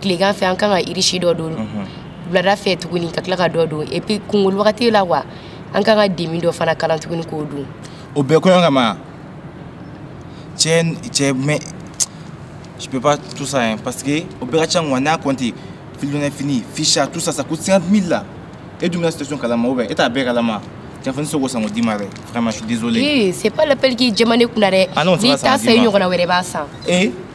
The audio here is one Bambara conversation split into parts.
tilegan fɛ an kan ka riche dɔ don mhm. wulada fɛ tuguni ka tila ka dɔ don et puis kungolo wagati la wa an kan ka demi dɔ fana kalan tuguni k'o don o bɛɛ kɔɲɔ kama cɛ cɛ mais je peux pas tout ça hein, parce que o bɛɛ ka ca ŋwa ne y'a compté filidonɛ fini ficha tout ça ça coûte 50 000 la e dun bɛ n ka situation kalama ou bien e t'a bɛɛ kalama Tiafani Sogo Sango Dimare. Vraiment, je suis désolé. Oui, c'est pas l'appel qui est Djemane Kounare. Ah non, c'est pas ça. Ni t'as fait une grande wéreba ça. Et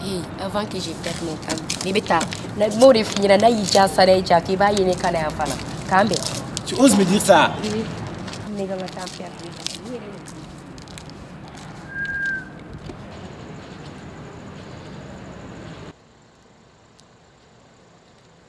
Hey, avant que je perde mon temps, ne bɛ taa na m'o de f'i ɲɛna n'a y'i diya sara y'i diya k'i b'a ye ne kan na yan fana k'an bɛn. Tu oses me dire ça? Oui. Ne kana temps perdre.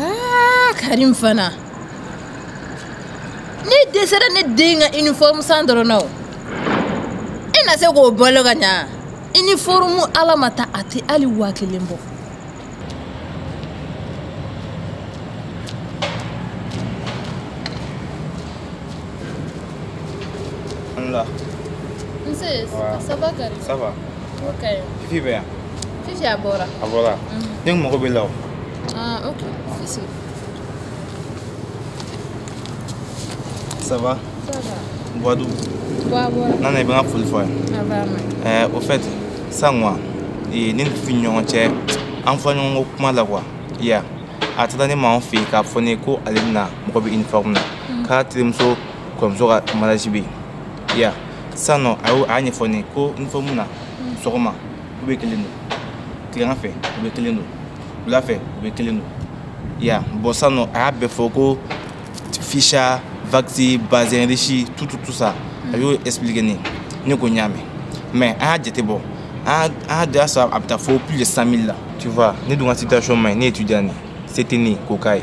Ah, Karim fana ne dɛsɛra ne den ka uniforme san dɔrɔn na o e na se k'o bolo ka ɲa uniforme ala ma ta a tɛ hali waa kelen bɔ Alhamdulillah. Nse, ça va Karim Ça va. Fifi bɛ yan Fifi a bɔra a bɔra ne tun mago b'a la o ah, ok Fifi ça va ça va Buadu nana i bɛ n ka foli fɔ yan ah, au fait san quoi ne ni Fifi ni ɲɔgɔn cɛ an fɔ ɲɔgɔn ko kuma la quoi ya a taara ne m'an fɛ yen k'a fɔ ne ko ale bɛna mago bɛ uniforme na k'a terimuso kɔrɔmuso ka mariage bɛ yen ya sisan nɔ a y'o a y'a ɲɛfɔ ne ye ko uniforme na sɔgɔma u bɛ kelen don tilegan fɛ u bɛ kelen don wula fɛ u bɛ kelen don ya bon sisan nɔ a y'a bɛɛ fɔ ko ficha wax bazin riche tout tout tout ça a y'o expliquer ne ye ne ko n y'a mɛn mais an y'a jate bɔ an y'a da sɔrɔ a bɛ taa fo plus de 100 000 la tu vois ne dun ka situation man ɲi ne étudiant de ye se tɛ ne ye k'o k'a ye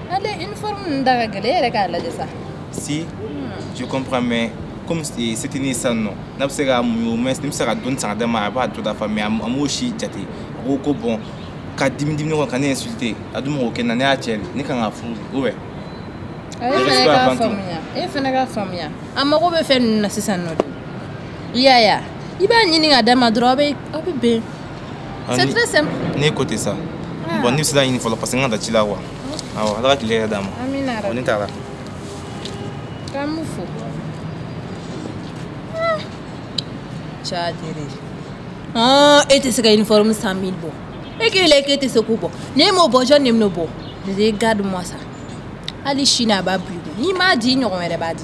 ale uniforme ninnu da ka gɛlɛn e yɛrɛ k'a lajɛ sa si je comprends mais comme eh, se tɛ ne sisan nɔ n'a bɛ se ka muɲu au moins ne bɛ se ka dɔɔni san ka d'a ma a b'a tɔ dafa mais a m- a m'o si jate a ko ko bon ka dimi dimi kɔnɔ ka ne insulter a dun man kan k'o kɛ n na ne y'a cɛ de ne kan k'a furu dɛ ou bien e Yɛrɛ fana sɛbɛn k'a fan tɛ. faamuya e fana k'a faamuya a mago bɛ fɛn ninnu na sisan nɔ de i y'a ye a? i b'a ɲini k'a d'a ma dɔrɔn aw bɛ aw bɛ bɛn Ah, c'est très simple ne ko tɛ sa ah. bon ne bɛ se ka ɲini fɔlɔ parce que n ka da ci la wa awɔ ala ka tile hɛrɛ d'an ma bon ne taara k'an b'u fo cadere e tɛ se ka uniforme cent mille bɔ e k'e la k'e tɛ se k'o bɔ n'e m'o bɔ jɔn de bɛn'o bɔ regarde moi ça hali sini a b'a biri n'i m'a di i ɲɔgɔn wɛrɛ b'a di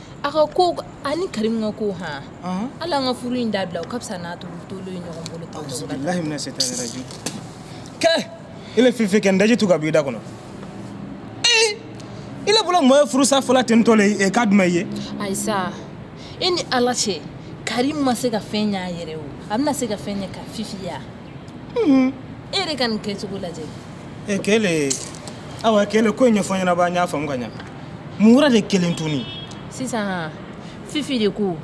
a ka ko ani karimu ka ko han ala an ka furu in dabila o ka fisa n'an tolen tolen ye ɲɔgɔn bolo tan bilahi mina setani rajimu kɛ i le fifi kɛ n daji tu ka b'i da kɔnɔ ee i le bolo mɔɔ ye furusa fɔla ten tɔ le ye k'a duma i ye ayi sa e ni ala cɛ karimu ma se ka fɛn ɲ'a yɛrɛ o a bɛna se ka fɛn ɲɛ ka fifi ya e yɛrɛ ka nin kɛcogo lajɛ e kɛlɛ awa kɛlɛ ko in ɲɛfɔ n ɲɛna ba n y'a faamu ka ɲa mun wɛrɛ de kɛlen tuni sisan fifi de ko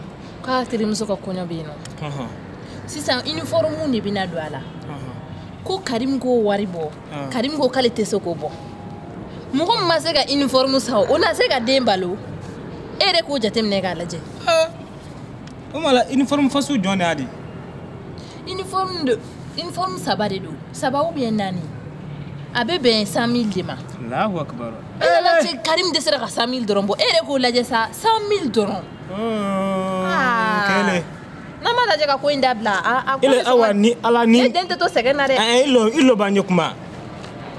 k'a terimuso ka kɔɲɔ bɛ yen nɔ sisan uniforme de bɛna don a la ko karimu k'o wari bɔ karimu ko k'ale tɛ se k'o bɔ mɔgɔ min ma se ka uniforme san o na se ka den balo e yɛrɛ k'o jateminɛ k'a lajɛ o ma la uniforme fasugu jɔn de y'a di uniforme de uniforme saba de don saba ou bien naani a bɛ bɛn cent mille de ma. alahu akibaru. e nana se karimu dɛsɛra ka cent mille dɔrɔn bɔ e yɛrɛ k'o lajɛ sa cent mille dɔrɔn. kɛlɛ. n'a m'a lajɛ ka ko in dabila a a ko bɛ awa ni ala ni. e den tɛ to sɛgɛn na dɛ. ɛ i lɔ i lɔ ba n ye kuma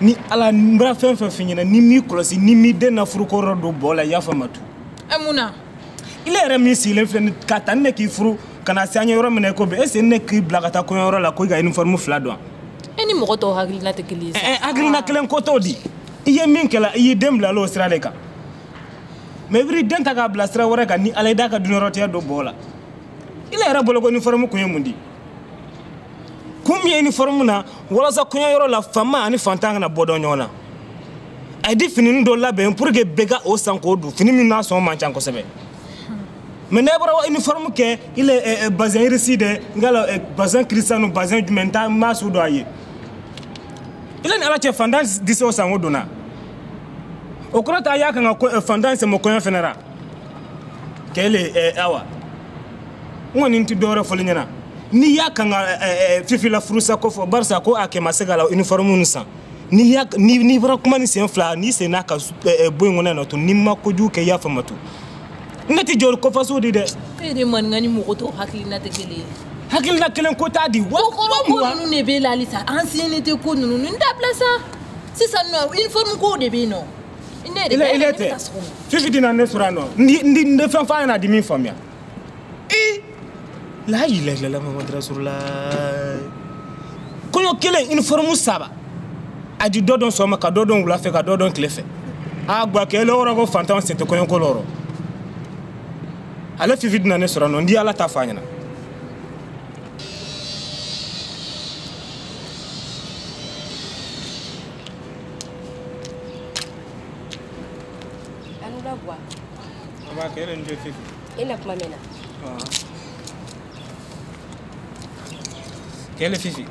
ni ala n bɛna fɛn fɛn f'i ɲɛna n'i m'i kɔlɔsi n'i m'i den na furukɔrɔ don bɔɔ la i y'a faamu a tu. ɛ mun na. ile yɛrɛ min sigilen filɛ k'a ta ni ne k'i furu ka na se an ye yɔrɔ min na i ko bi est-ce ne k'i bila ka taa kɔɲɔyɔrɔ la ko i ka uniforme fila don e ni mɔgɔ tɔw hakilina tɛ kelen ye sa eh, hakilina kelen ko t'o di i ye min kɛla i y'i den bilala o sira de kan mɛ i b'i den ta k'a bila sira wɛrɛ kan ni ala i d'a ka duniyarɔtigɛ don bɔɔ la ile yɛrɛ bolo ko uniforme kun ye mun di kun min ye uniforme na walasa kɔɲɔyɔrɔ la fanma ani fantan kana bɔ dɔn ɲɔgɔn na a ye di finini dɔ labɛn pour que bɛɛ ka o san k'o don fini min na sɔngɔ man ca kosɛbɛ mɛ n'a fɔra uniforme kɛ i le bazin riche dɛ n ka la bazin kiristanu bazin jumɛn n t'a masu dɔn a ye i le ni ala cɛ fantan di se o san k'o don wa o kɔrɔ tɛ a y'a kan ka eh, fantan sen bɔ kɔɲɔ fɛnɛ ra kɛlɛ eh, awa n kɔni tɛ dɔwɛrɛ fɔl'i ɲɛna n'i y'a kan ka eh, fifi la furusa ko fɔ barisa ko a kɛ ma se k'a la uniforme nu san n'i bara kuma ni sen fila n'i sen n'a ka eh, eh, bɔ in kɔnɔ na to n'i ma kojugu kɛ yafa n ma to ne tɛ jɔ kɔfaso di dɛ e de maninka ni mɔgɔ tɔw hakilina tɛ kelen ye hakilina kelen ko t'a di wa kɔrɔ ko ninnu de b'e la halisa ancienneté ko ninnu n dabila sa sisan nɔ uniforme kow de bɛ yen nɔ ne de bɛ ne ka sɔgɔma fifi dina ne sɔrɔ yan nɔ n di fɛn f'a ɲɛna a di min faamuya i layilayilala mamadu rasulula kɔɲɔ kelen uniforme saba a di dɔ dɔn sɔgɔma ka dɔ dɔn wula fɛ ka dɔ dɔn tile fɛ a gbakele wɔrɔ ko fantanw sen tɛ kɔɲɔko lu rɔ ale fifi dina ne sɔrɔ yan nɔ n di ala ta fɔ a ɲɛna Anula bwa. Aba kelen de fifi. e na kuma min na kɛlɛ fifi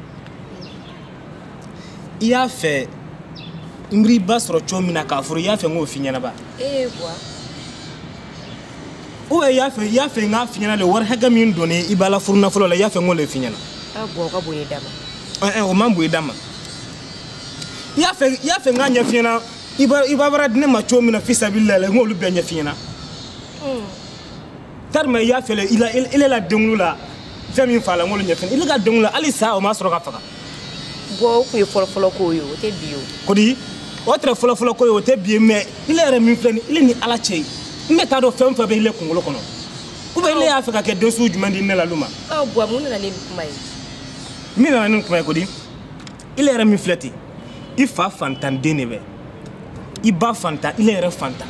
i y'a fɛ n bar'i ba sɔrɔ cogo min na k'a furu i y'a fɛ n k'o f'i ɲɛna ba ee bwa ou i y'a fɛ i y'a fɛ n k'a f'i ɲɛna le wari hakɛ min donni i ba la furu nafolo la i y'a fɛ n k'o le f'i ɲɛna a bwa o ka bon i da ma ɛɛ eh, eh, o man bon i da ma i y'a fɛ i y'a fɛ n k'a ɲɛf'i ɲɛna i ba bara di ne ma cogo min na fisabililahi n k'olu bɛɛ ɲɛf'i ɲɛna karima i y'a fɛ le i la i le la denkunli la fɛn min fagala n k'olu ɲɛf'i ɲɛna i le ka denkunli la hali saga o ma sɔrɔ ka faga bwa o tun ye fɔlɔfɔlɔ ko ye o tɛ bi ye o kodi o tɛrɛ fɔlɔfɔlɔ ko ye o tɛ bi ye mɛ i le yɛrɛ min filɛ nin i le ni ala cɛ ye n bɛ t'a dɔn fɛn o fɛn bɛ i le kunkolo kɔnɔ ou bien i le y'a fɛ ka kɛ den sugu jumɛn di ne la lu ma bɔ mun nana ni kuma ye min nana ni kuma ye kodi ile yɛrɛ min filɛ ten i fa fantanden de bɛ i ba fantan ile yɛrɛ fantan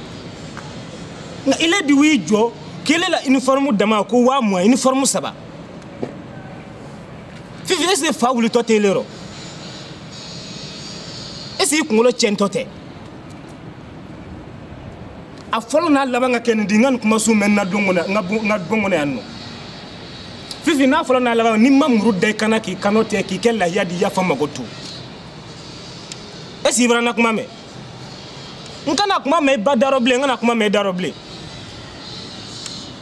nka ile de y'i jɔ kɛlɛ la uniforme dama ko waa mugan uniforme saba fifi est ce que fa wulitɔ tɛ ile rɔ est ce que i kunkolo tiɲɛtɔ tɛ a fɔlɔ n'a laban ka kɛ nin di n kana nin kuma sugu mɛn n na bon kɔnɔ n ka bon kɔnɔ yan nɔ fifi n'a fɔlɔ n'a laban ni n ma muru da i kan na k'i kannatigɛ k'i kɛ lahiya di yafa n ma ko to est ce que i bara n na kuma mɛn n kana kuma mɛn i ba da rɔ bilen n kana kuma mɛn i da rɔ bilen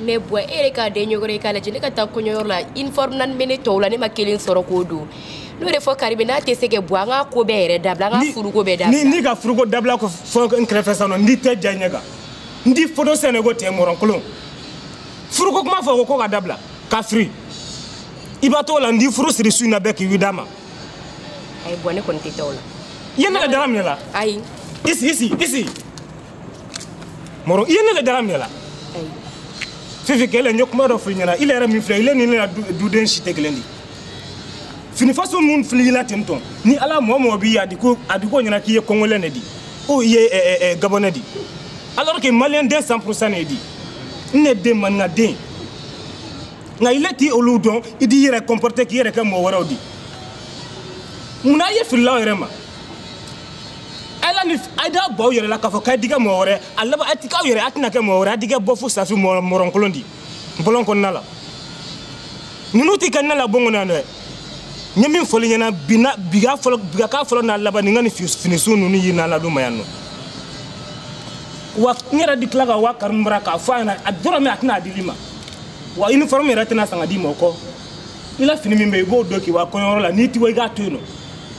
mais bwa e yɛrɛ k'a den ɲɔgɔn ye k'a lajɛ ne ka taa kɔɲɔyɔrɔ la uniforme naani bɛ ne tɔw la ne ma kelen sɔrɔ k'o don n'o de fɔ karibe n'a tɛ se ka bɔ an ka ko bɛɛ yɛrɛ dabila an ka furuko bɛɛ dabila n'i ka furuko dabila ko fɔ n kɛrɛfɛ sisan nɔ n di tɛgɛ ja i ɲɛ kan n d'i foto sɛnɛ ko tɛ mɔrɔnkolon furuko kuma fɔ ko k'o ka dabila ka firi i b'a to la n di furu siri su in na bɛɛ k'i wi d'a ma ayi bɔn ne kɔni tɛ taa o la i ye ne ka dara minɛ la ayi i sigi sigi i sigi mɔrɔ i ye ne ka dara minɛ la ayi fifi kɛlɛ n ye kuma dɔ f'i ɲɛna i yɛrɛ min filɛ i le ni ne ka duden si tɛ kelen di fini faso mun filila ten tɔn ni ala mɔgɔ mɔgɔ b'i ye a di k'o ɲɛna k'i ye kɔngɔlɛ de di ou i ye ɛɛ gabɔnɛ di alors que maliyɛn den 100 pourcent ne di n ne den maninka den nka i le ti olu dɔn i d'i yɛrɛ comporter k'i yɛrɛ kɛ mɔgɔ wɛrɛw di mun na a ye fili l'aw yɛrɛ ma ala ni a d'a b'aw yɛrɛ la k'a fɔ k'a di kɛ mɔgɔ wɛrɛ a laban a ti k'aw yɛrɛ a tɛna kɛ mɔgɔ wɛrɛ a di kɛ bɔ fo safi mɔrɔnkolon di bɔlɔn kɔnɔna la ninnu ti kɛ ne la bon kɔnɔ yan dɛ n ye min fɔ l'i ɲɛna bi na bi ka fɔlɔ bi ka k'a fɔlɔ n'a laban ni kana finisu ninnu ye ne la du ma yan nɔ wa n yɛrɛ di tila ka wa karimu bara k'a fɔ a ɲɛna a dɔrɔmɛ a tɛna a d'i le ma wa uniforme yɛrɛ tɛna san ka d'i ma o kɔ i la fini min bɛ i b'o don k'i wa kɔɲɔyɔrɔ la n'i ti wa i k'a to yen nɔ